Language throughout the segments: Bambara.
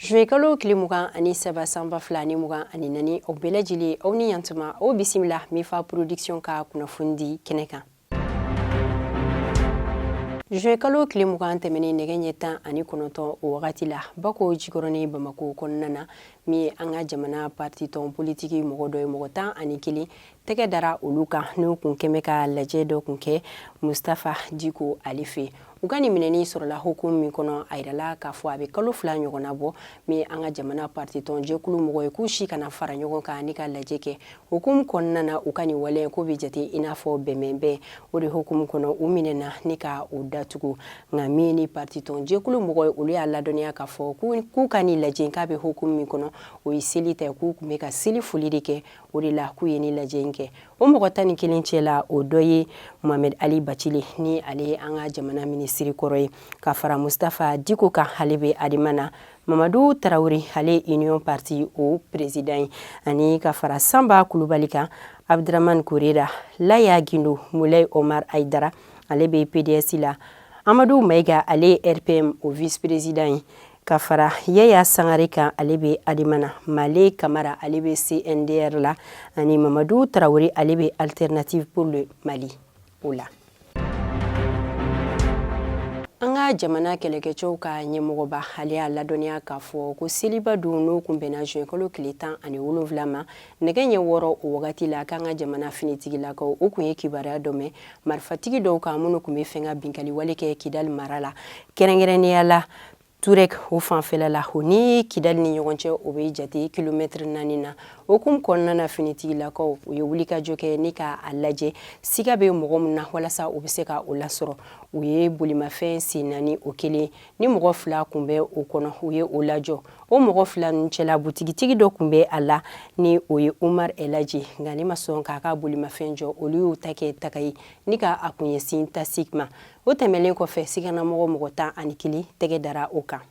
juwɛnkalo tile mugan ani saba san ba fila ni mugan ani naani aw bɛɛ lajɛlen aw ni yan tuma aw bisimila mifa production ka kunnafoni di kɛnɛ kan juwɛnkalo tile mugan tɛmɛnen nɛgɛ ɲɛ tan ani kɔnɔntɔn o wagati la bakɔjikɔrɔnin bamakɔ kɔnɔna na min ye an ka jamana partitɔn politiki mɔgɔ dɔ ye mɔgɔ tan ani kelen tɛgɛ dara olu kan n'u tun kɛmɛ ka lajɛ dɔ tun kɛ mustafa diko ale fɛ u ka nin minɛni sɔrɔla hukumu min kɔnɔ a yirala k'a fɔ a bɛ kalo fila ɲɔgɔnna bɔ min an ka jamana partitɔn jɛkulu mɔgɔ ye k'u si kana fara ɲɔgɔn kan ni ka lajɛ kɛ hukumu kɔnɔna na u ka nin waleya k'o bɛ jate i n'a fɔ bɛnbɛnbɛn o de hukumu kɔnɔ u minɛna ni ka u datugu nka min ni partitɔn jɛkulu mɔgɔ ye olu y'a ladɔnniya k'a fɔ k'u ka nin lajɛ k'a bɛ hukumu min kɔnɔ o ye seli ta k'u tun bɛ ka seli foli de kɛ o de la k'u ye nin lajɛ in kɛ o mɔgɔ tan ni kelen cɛ la o dɔ ye mohamed ali bacili ni ale ye an ka jamana minisiri kɔrɔ ye ka fara mustafa diko kan ale bɛ adema na mamadu tarawele ale ye union parti o perezidan ye ani ka fara sanba kulubali kan abdramani korera laya gindo mulay omar ayidara ale bɛ pdes la amadu maiga ale ye rpm o vice perezidan ye ka fara yaya sangare kan ale bɛ adema na male kamara ale bɛ cndr la ani mamadu tarawele ale bɛ alternative pour le mali o la an ka jamana kɛlɛkɛcɛw ka ɲɛmɔgɔba ale y'a ladɔnniya k'a fɔ ko seliba don n'o tun bɛnna juwɛnkalo tile tan ani wolonfila ma nɛgɛ ɲɛ wɔɔrɔ o wagati la k'an ka jamana finitigilakaw u tun ye kibaruya dɔ mɛn marifatigi dɔw kan minnu tun bɛ fɛ ka binkali wale kɛ kidali mara la kɛrɛnkɛrɛnnenya la turek o fanfɛla la o ni kidali ni ɲɔgɔn cɛ o bɛ jate kilomɛtiri naani na o hukumu kɔnɔna na finitigilakaw u ye wulikajɔ kɛ ni ka a lajɛ siga bɛ mɔgɔ min na walasa u bɛ se ka o lasɔrɔ u ye bolimafɛn sen naani o kelen ni mɔgɔ fila kun bɛ o kɔnɔ u ye o lajɔ o mɔgɔ fila ninnu cɛla butigitigi dɔ kun bɛ a la ni o ye umar elaji nka nin ma sɔn k'a ka bolimafɛn jɔ olu y'u ta kɛ taga ye ni ka a kun ɲɛsin tasik ma o tɛmɛlen kɔfɛ siganamɔgɔ mɔgɔ tan ani kelen tɛgɛ dara o kan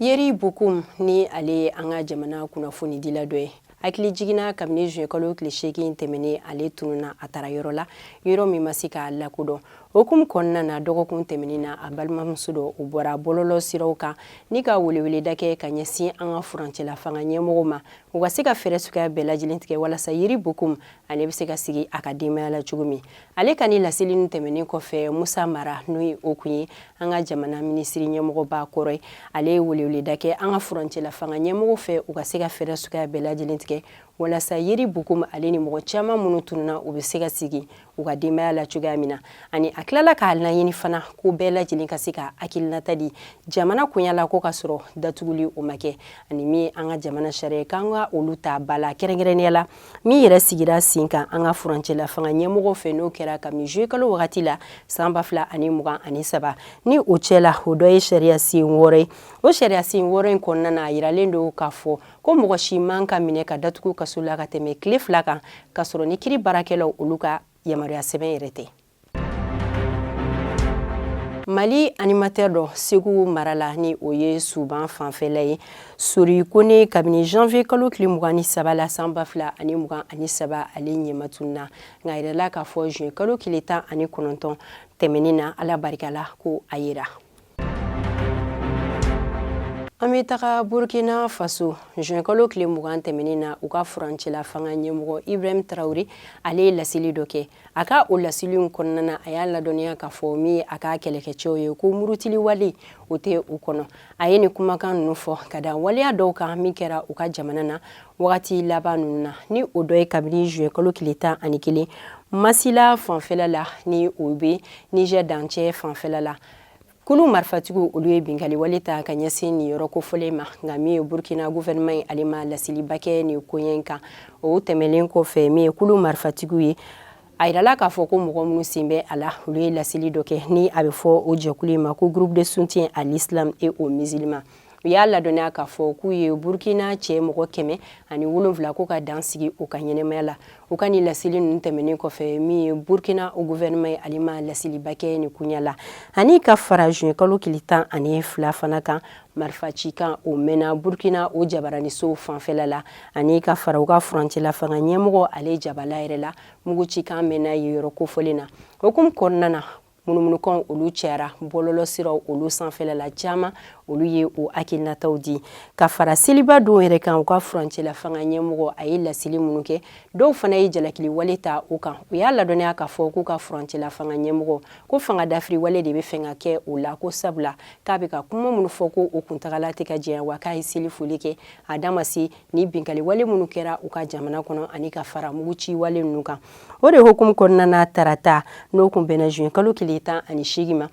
yeri bokum ni ale ye an ka jamana kunnafonidila dɔ ye hakilijigin na kabini juin kalo tile seegin tɛmɛnen ale tununna a taara yɔrɔ la yɔrɔ min ma se k'a lakodɔn hukumu kɔnɔna na dɔgɔkun tɛmɛnen na a balimamuso dɔw bɔra bɔlɔlɔ siraw kan ni ka weleweleda kɛ ka ɲɛsin an ka furancɛla fanga ɲɛmɔgɔw ma u ka se ka fɛɛrɛ suguya bɛɛ lajɛlen tigɛ walasa yeri bokum ale bɛ se ka segin a ka denbaya la cogo min ale ka nin laseli in tɛmɛnen kɔfɛ musa mara n'o ye o kun ye an ka jamana minisiri ɲɛmɔgɔba kɔrɔ ye ale ye weleweleda kɛ an ka furancɛla fanga ɲɛmɔgɔw fɛ u ka se ka fɛɛrɛ suguya bɛɛ lajɛlen tigɛ walasa yeri bokum ale ni mɔgɔ caman minnu tununa u bɛ se ka sigi u ka denbaya la cogoya min na ani a tilala k'a laɲini fana ko bɛɛ lajɛlen ka se k'a hakilinata di jamana koɲa la ko k'a sɔrɔ datuguli o ma kɛ ani min an ka jamana sariya k'an ka olu ta ba la kɛrɛnkɛrɛnnenya la min yɛrɛ sigira sen kan an ka furancɛla fanga ɲɛmɔgɔw fɛ n'o kɛra kabini zuye kalo wagati la san ba fila ani mugan ani saba ni o cɛla o dɔ ye sariya sen wɔɔrɔ ye o sariya sen wɔɔrɔ in kɔnɔna na a yiralen don k'a fɔ ko mɔgɔ si man ka minɛ ka datugu kaso la ka tɛmɛ tile fila kan k'a sɔrɔ ni kiri baarakɛlaw olu ka yamaruya sɛbɛn yɛrɛ tɛ mali animatɛr dɔ segu mara la ni o ye suban fanfɛla ye sori kone kabini janvier kalo tile mugan ni saba la san ba fila ani mugan ani saba ale ɲɛmatunna nka a yirala k'a fɔ juin kalo tile tan ani kɔnɔntɔn tɛmɛnin na ala barika la ko a yera An bɛ taga Burkina Faso juin kalo tile mugan tɛmɛnen na u ka furancɛla fanga ɲɛmɔgɔ Ibrahim Traore ale ye laseli dɔ kɛ a ka o laseli in kɔnɔna na a y'a ladɔnniya k'a fɔ min ye a ka kɛlɛkɛcɛw ye ko murutiliwale o tɛ u kɔnɔ a ye nin kumakan ninnu fɔ ka da waleya dɔw kan min kɛra u ka jamana na wagati laban ninnu na ni o dɔ ye kabini juin kalo tile tan ani kelen Mansila fanfɛla la ni o bɛ Niger dancɛ fanfɛla la kulu marifatigiw olu ye binkaliwale ta ka ɲɛsin nin yɔrɔ kofɔlen ma nka min ye burkina guvɛrɛnɛman ye ale ma laseliba kɛ nin koɲɛ in kan o tɛmɛlen kɔfɛ min ye kulu marifatigiw ye a yirala k'a fɔ ko mɔgɔ minnu sen bɛ a la olu ye laseli dɔ kɛ ni a bɛ fɔ o jɛkulu in ma ko groupe de soutien à l'islam et aux musulmans u y'a ladɔnniya k'a fɔ k'u ye burkina cɛ mɔgɔ kɛmɛ ani wolonfila ko ka dan sigi u ka ɲɛnɛmaya la u ka nin laseli ninnu tɛmɛnen kɔfɛ min ye burkina o guvɛrɛnɛman ye ale ma laseliba kɛ nin koɲa la ani ka fara juin kalo tile tan ani fila fana kan marifa ci kan o mɛnna burkina o jabaranisow fanfɛla la ani ka fara u ka furancɛla fanga ɲɛmɔgɔ ale jabala yɛrɛ la mugu ci kan mɛnna yen yɔrɔ kofɔlen na hukumu kɔnɔna na munumunukan olu cɛyara bɔlɔlɔ siraw olu sanfɛla la caman olu ye o hakilinataw di ka fara seliba don yɛrɛ kan u ka furancɛla fanga ɲɛmɔgɔ a ye laseli minnu kɛ dɔw fana ye jalakili wale ta o kan u y'a ladɔnniya k'a fɔ k'u ka furancɛla fanga ɲɛmɔgɔ ko fanga dafiri wale de bɛ fɛ ka kɛ o la ko sabula k'a bɛ ka kuma minnu fɔ ko o kuntagala tɛ ka jɛya wa k'a ye seli foli kɛ a da ma se ni binkali wale minnu kɛra u ka jamana kɔnɔ ani ka fara mugu ci wale ninnu kan o de hukumu kɔnɔna na tarata n'o kun bɛnna juin kalo tile tan ani seegin ma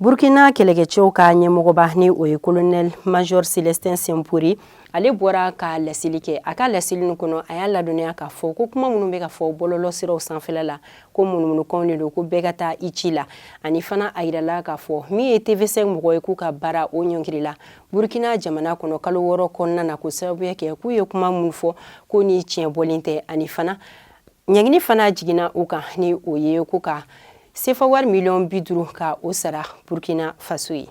burkina kɛlɛkɛcɛw ka ɲɛmɔgɔba ni o ye kolonɛl major celestin simporé ale bɔra ka laseli kɛ a ka laseli nin kɔnɔ a y'a ladɔnniya k'a fɔ ko kuma minnu bɛ ka fɔ bɔlɔlɔ siraw sanfɛla la ko munumunukanw de don ko bɛɛ ka taa i ci la ani fana a yirala k'a fɔ min ye tv5 mɔgɔ ye k'u ka baara o ɲɔngirila burkina jamana kɔnɔ kalo wɔɔrɔ kɔnɔna na k'o sababuya kɛ k'u ye kuma minnu fɔ k'o ni tiɲɛ bɔlen tɛ ani fana ɲangini fana jiginna u kan ni o ye ko ka sefa wari miliyɔn bi duuru ka o sara burkina faso ye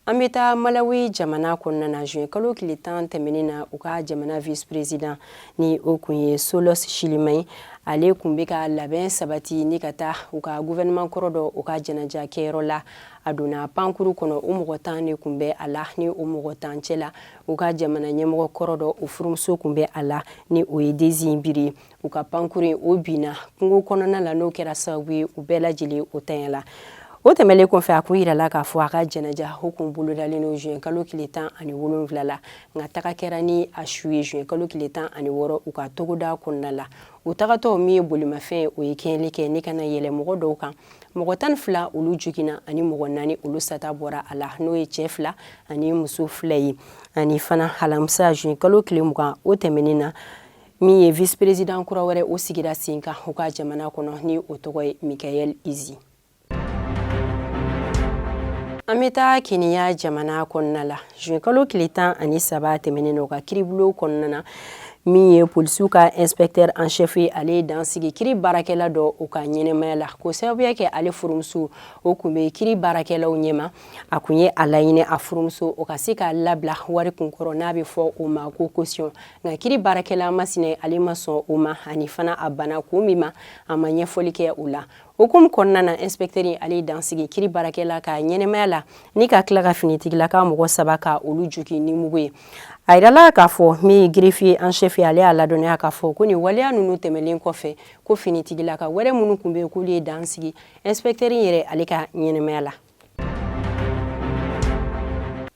an bɛ taa malawi jamana kɔnɔna na juin kalo tile tan tɛmɛnen na u ka jamana vice président ni o kun ye saulos chilima ye ale kun bɛ ka labɛn sabati ni ka taa u ka gouvernement kɔrɔ dɔ o ka janaja kɛyɔrɔ la a donna pankuru kɔnɔ o mɔgɔ tan de kun bɛ a la ni o mɔgɔ tan cɛ la u ka jamana ɲɛmɔgɔ kɔrɔ dɔ o furumuso kun bɛ a la ni o ye dzimbiri u ka pankuru in o binna kungo kɔnɔna la n'o kɛra sababu ye u bɛɛ lajɛlen o tanya la o tɛmɛlen kɔfɛ a kun yirala k'a fɔ a ka janaja o kun bolodalen don juin kalo tile tan ani wolonwula la nka taga kɛra ni a su ye juin kalo tile tan ani wɔɔrɔ u ka togoda kɔnɔna la u tagatɔ min ye bolimafɛn o ye kɛɲɛli kɛ ni ka na yɛlɛ mɔgɔ dɔw kan mɔgɔ tan fila olu joginna ani mɔgɔ naani olu sata bɔra a la n'o ye cɛɛ fila ani muso fila ye ani fana halamisa juin kalo tile mugan o tɛmɛnin na min ye vice président kura wɛrɛ o sigira sen kan u ka jamana kɔnɔ ni o tɔgɔ ye michael usi an bɛ taa keniya jamana kɔnɔna la juin kalo tile tan ani saba tɛmɛnen na u ka kiiribulon kɔnɔna na min ye polisiw ka inspecteur en chef ye ale ye dan sigi kiri baarakɛla dɔ o ka ɲɛnamaya la k'o sababuya kɛ ale furumuso o kun bɛ kiri baarakɛlaw ɲɛma a kun ye a laɲini a furumuso o ka se ka labila wari kunkɔrɔ n'a bɛ fɔ o ma ko caution nka kiri baarakɛla masinɛ ale ma sɔn o ma ani fana a bana kun min ma a ma ɲɛfɔli kɛ o la hukumu kɔnɔna na inspɛktɛri ale ye dan sigi kiri baarakɛla ka ɲɛnamaya la ni ka tila ka finitigilaka mɔgɔ saba ka olu jogi ni mugu ye a yirala k'a fɔ min ye greffier en chef ye ale y'a ladɔnniya k'a fɔ ko nin waleya ninnu tɛmɛlen kɔfɛ ko finitigilaka wɛrɛ minnu kun bɛ yen k'olu ye dan sigi inspɛktɛri yɛrɛ ale ka ɲɛnamaya la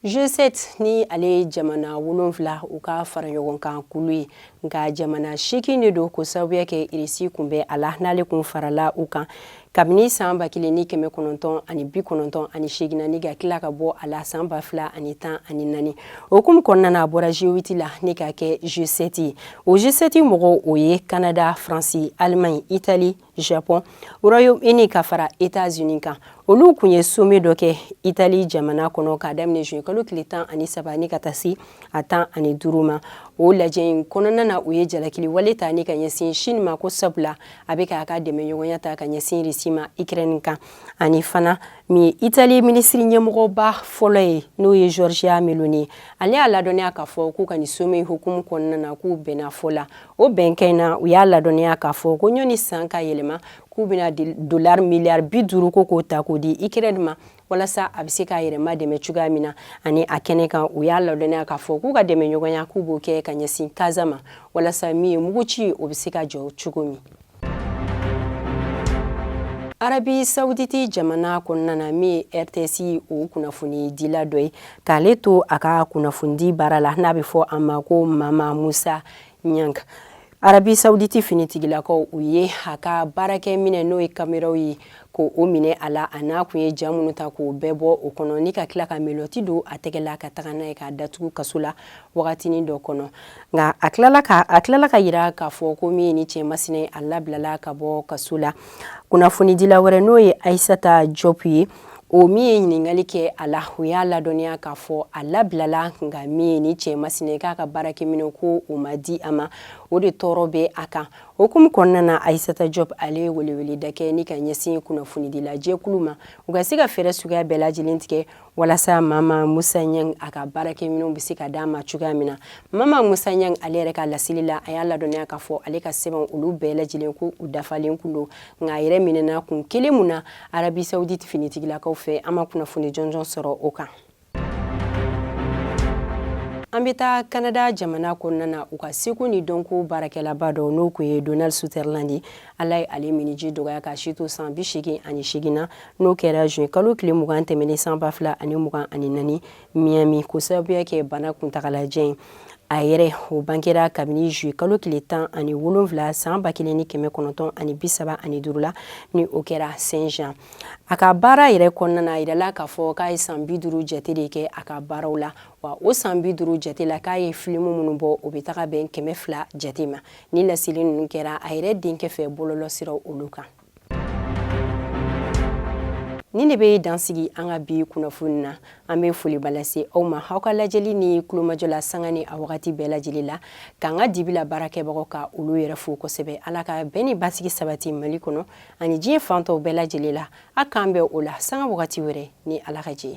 G7 ni ale ye jamana wolonfila u ka fara ɲɔgɔn kan kulu ye nka jamana seegin de don k'o sababuya kɛ irisi kun bɛ a la n'ale kun farala u kan kabini saan ba kelen ni kɛmɛ kɔnɔntɔn ani bi kɔnɔntɔn ani seegin na ni ka tila ka bɔ a la saan ba fila ani tan ani naani o hukumu kɔnɔna na a bɔra g8 la ni ka kɛ g7 ye o g7 mɔgɔw o ye kanada faransi alimaɲi itali japon royaume uni ka fara etats unis kan olu kun ye sommet dɔ kɛ itali jamana kɔnɔ k'a daminɛ juin kalo tile tan ani saba ni ka taa se a tan ani duuru ma o lajɛ in kɔnɔna na u ye jalakili wale ta ni ka ɲɛsin chine ma ko sabula a bɛ k'a ka dɛmɛɲɔgɔnya ta ka ɲɛsin risi ma ukraine kan ani fana min ye itali minisiri ɲɛmɔgɔba fɔlɔ ye n'o ye giorgia meloni ale y'a ladɔnniya k'a fɔ k'u ka nin sommet hukumu kɔnɔna na k'u bɛnna fɔ la o bɛnkan in na u y'a ladɔnniya k'a fɔ ko ɲɔni san ka yɛlɛma k'u bɛna dolari miliyari bi duuru ko k'o ta k'o di ikirɛni ma walasa a bɛ se k'a yɛrɛma dɛmɛ cogoya min na ani a kɛnɛ kan u y'a ladɔnniya k'a fɔ k'u ka dɛmɛɲɔgɔnya k'u b'o kɛ ka ɲɛsin kaza ma walasa min ye muguci o bɛ se ka jɔ cogo min arabi sawuditi jamana kɔnɔna na min ye rts o kunnafonidila dɔ ye k'ale to a ka kunnafonidi baara la n'a bɛ fɔ a ma ko mama musa ɲang arabi sawuditi finitigilakaw u ye a ka baarakɛminɛn n'o ye kameraw ye ko o minɛ a la a n'a kun ye ja minnu ta k'o bɛɛ bɔ o kɔnɔ ni ka tila ka melɔti don a tɛgɛ la ka taga n'a ye k'a datugu kaso la wagatinin dɔ kɔnɔ nka a tilala ka a tilala ka yira k'a fɔ ko min ye nin cɛ masina a labilala ka bɔ kaso la kunnafonidila wɛrɛ n'o ye ayisata jɔpu ye o min ye ɲininkali kɛ a la o y'a ladɔnniya k'a fɔ a labilala nka min ye nin cɛ masina k'a ka baarakɛminɛn ko o ma di a ma o de tɔɔrɔ bɛ a kan O hukumu kɔnɔna na Aisata Job ale ye weleweleda kɛ ni ka ɲɛsin kunnafonidila jɛkulu ma u ka se ka fɛɛrɛ suguya bɛɛ lajɛlen tigɛ walasa Mama Musa Ɲang a ka baarakɛminɛnw bɛ se ka d'a ma cogoya min na. Mama Musa Ɲang ale yɛrɛ ka laseli la a y'a ladɔnniya k'a fɔ ale ka sɛbɛnw olu bɛɛ lajɛlen ko u dafalen kun don nka a yɛrɛ minɛna kun kelen mun na Arabi Saoudite finitigilakaw fɛ an ma kunnafoni jɔnjɔn sɔrɔ o kan. an bɛ taa kanada jamana kɔnɔna na u ka seko ni dɔnko baarakɛlaba dɔ n'o kun ye donald sutherland ye ala ye ale miniji dɔgɔya k'a si to san bi seegin ani seegin na n'o kɛra juin kalo tile mugan tɛmɛnen san ba fila ani mugan ani naani miami k'o sababuya kɛ bana kuntagalajan ye a yɛrɛ o bangera kabini juillet kalo tile tan ani wolonwula san ba kelen ni kɛmɛ kɔnɔntɔn ani bi saba ani duuru la ni o kɛra saint jean a ka baara yɛrɛ kɔnɔna a yirala k'a fɔ k'a ye san bi duuru jate de kɛ a ka baaraw la wa o san bi duuru jate la k'a ye filimu minnu bɔ o bɛ taga bɛn kɛmɛ fila jate ma nin laseli ninnu kɛra a yɛrɛ denkɛ fɛ bɔlɔlɔsiraw olu kan Nin de bɛ dansigi an ka bi kunnafoni na an bɛ foliba lase aw ma aw ka lajɛli ni tulomajɔ la sanga ni a wagati bɛɛ lajɛlen la k'an ka dibila baarakɛbagaw ka olu yɛrɛ fo kosɛbɛ ala ka bɛn ni basigi sabati mali kɔnɔ ani diɲɛ fan tɔw bɛɛ lajɛlen la a k'an bɛn o la sanga wagati wɛrɛ ni ala ka jɛ